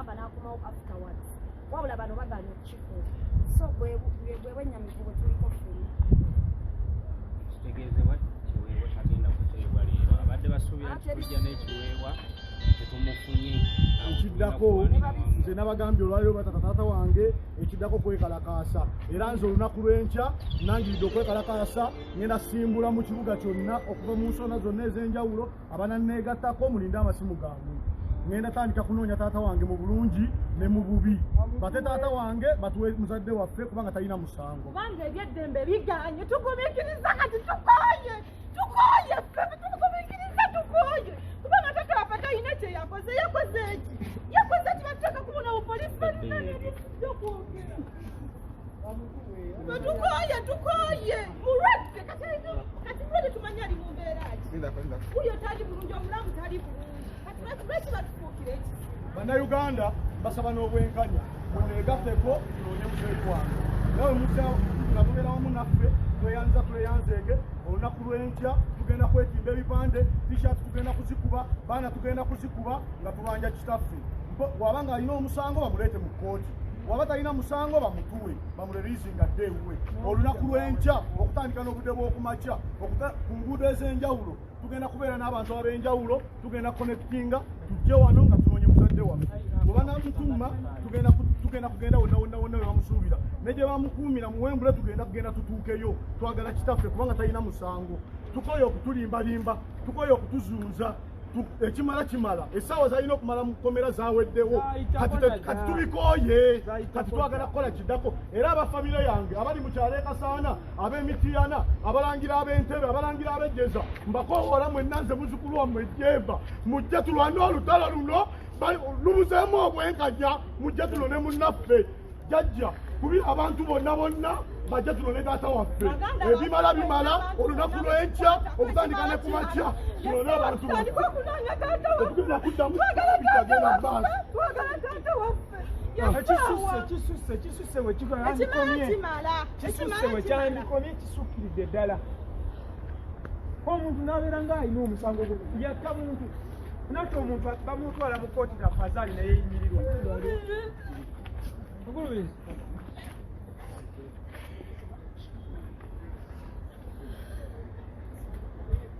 amba nakomawo afterwards wabula bano baganye okukikuula so bwebwenyamivu bwetuliko feni kitegeezebwa kiweebwa kyagenda kuteebwa leero abadde basuubira nti tujja n'ekiweebwa tetumufunye ekiddako nze nabagambye olwaliro batata taata wange ekiddako kwekalakaasa era nze olunaku lw'enkya nangiridde okwekalakaasa ngenda simbula mu kibuga kyonna okuva mu nsonda zonna ez'enjawulo abana negatako mulinde amasimu gange ngenda tandika kunoonya taata wange mu bulungi ne mu bubi bate taata wange batuwe muzadde waffe kubanga talina musango kubanga ebyeddembe biganye tugumikiriza kati tukoye tukoye tugumikiriza tukoye kubanga taata waffe talina kyeyakoze yakoze eki yakoze eki batuteka kubona bupolisi balina nebyokwogera Tukoye, tukoye. Mulwadde kati kati mulwadde tumanyi ali mu mbeera ki. Wuyo tali bulungi, omulamu tali bulungi. Kati lwaki lwaki batufuukira eki? Bannayuganda basaba n'obwenkanya muneegatteko tunoonye muteekwange nawe musa nga mubeera wamu naffe tweyanza tweyanzeege olunaku lw'enkya tugenda kwetimba ebipande tishat tugenda kuzikuba baana tugenda kuzikuba nga tubanja kitaffe waba ng'alina omusango bamuleete mu kkooti waba talina musango bamutuwe bamurelizinga dde ewuwe olunaku lw'enkya okutandika n'obudde bw'okumakya ku nguudo ez'enjawulo tugenda kubeera n'abantu ab'enjawulo tugenda connectinga tujje wano nga tunoonye muzadde waffe webanamutuuma tugenda tugenda kugenda wonna wonna wonna we bamusuubira ne gye bamukuumira mu wembule tugenda kugenda tutuukeyo twagala kitaffe kubanga talina musango tukoye okutulimbalimba tukoye okutuzuuza ekimala kimala esaawa zalina okumala mukomera zaweddewo kati tubikooye kati twagala kukola kiddako era abafamire yange abali mukyalo ekasaana abemitiyana abalangira abentebe abalangira abejeza mbakowoola mwenna nze muzukulu wamwe jeva mujje tulwane olutalo luno lubuzeemu obwenkanya mujja tuno ne munnaffe jajja kubi abantu bonna bonna bajja tuno ne taata waffe ebimala bimala olunaku lwenkya okutandika ne kumakya tunone abantu okugenda kuddamu bitagenda maaso ekisusse wekyandikomye kisukkiridde ddala omuntu nabeera nga alina omusango gwe yakka muntu nate omuntu bamutwala mu kooti na fazali naye yimirirwa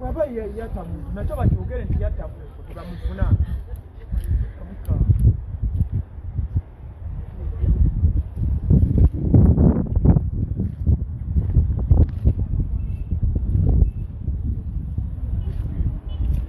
waba yeyata muntu nakyo bakyogere nti yatta muntu tebamufuna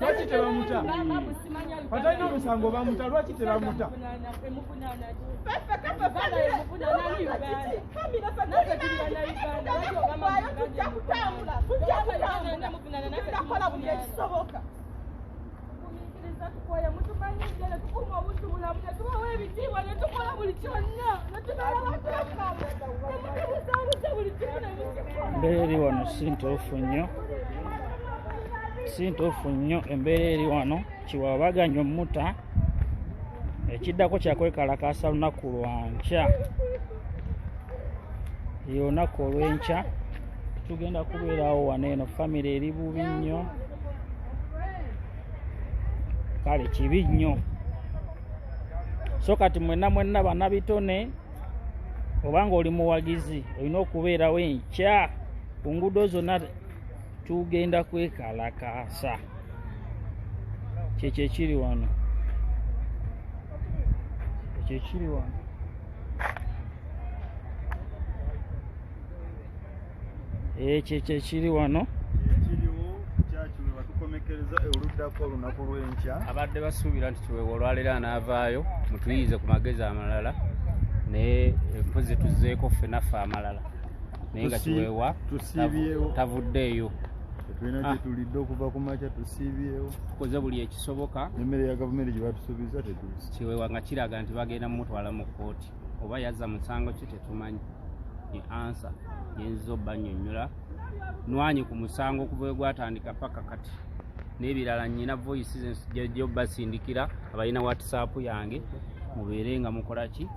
lwaki tebamuta atalina omusango bamuta lwaki tebamuta embeera eri wano si ntuufu nnyo si ntuufu nnyo embeera eri wano kiwabaganya omuta ekiddako kyakwekalakaasa lunaku lwankya olunaku olwenkya tugenda kubeerawo wano eno famire eri bubi nnyo kale kibi nnyo so kati mwenna mwenna banabitone obanga oli muwagizi olina okubeerawo enkya ku nguudo zonna tugenda kwekalakaasa kyekyo ekiri wano ekyo ekiri wano ekyo ekyo ekiri wano ekiriwo kyakiwe batukomekereza oluddako olunaku lw'enkya abadde basuubira nti kiwewa olwaleero anaavaayo mutuyiize ku magezi amalala naye mpozi tuzeeko ffe naffe amalala naye nga kiwewa tavuddeeyo tulina ah. kyetulidde okuva ku makya tusiibyewo tukoze buli ekisoboka emmere ya gavumenti gye batusuubiza tetuusi kiwewa nga kiraga nti bagenda mumutwala mu kkooti oba yazza musango ki tetumanyi ye ansa yenziza obbanyonyola nwanyi ku musango okuva we gwatandika paka kati n'ebirala nyina voice zejo basindikira abalina whatsapp yange mubeere nga mukola ki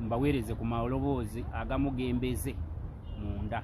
mbaweereze ku maloboozi agamugembeze munda